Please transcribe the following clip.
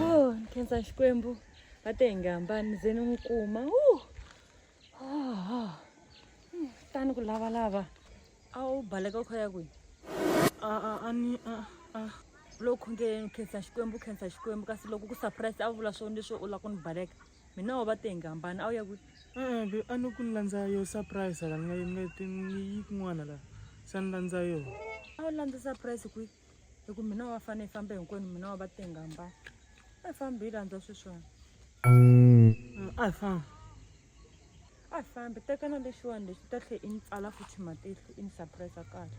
oh, nkhensa xikwembu va te hi nga hambani ze ni n'wi kuma oh, oh. tani ku lavalava a wu baleka u kha ya kwihi loko khongeleni u khensa xikwembu u khensa xikwembu kasi loko ku surprise a vula swona leswo u lava ku ni baleka mina wa va tengi hambana a wu ya kwi e-e a ni ku ni landza yo surprise la ni nga ni nga ni yi kun'wana la se ni landza yo a wu landza surprise kwi hi ku mina wa fane yi famba hinkwenu mina wa va tengi hambana a yi fambi yi landza swiswona a yi famba a yi fambi tekana lexiwani lexi ta tlhe i ni pfala futhi matihlo i ni surprise kahle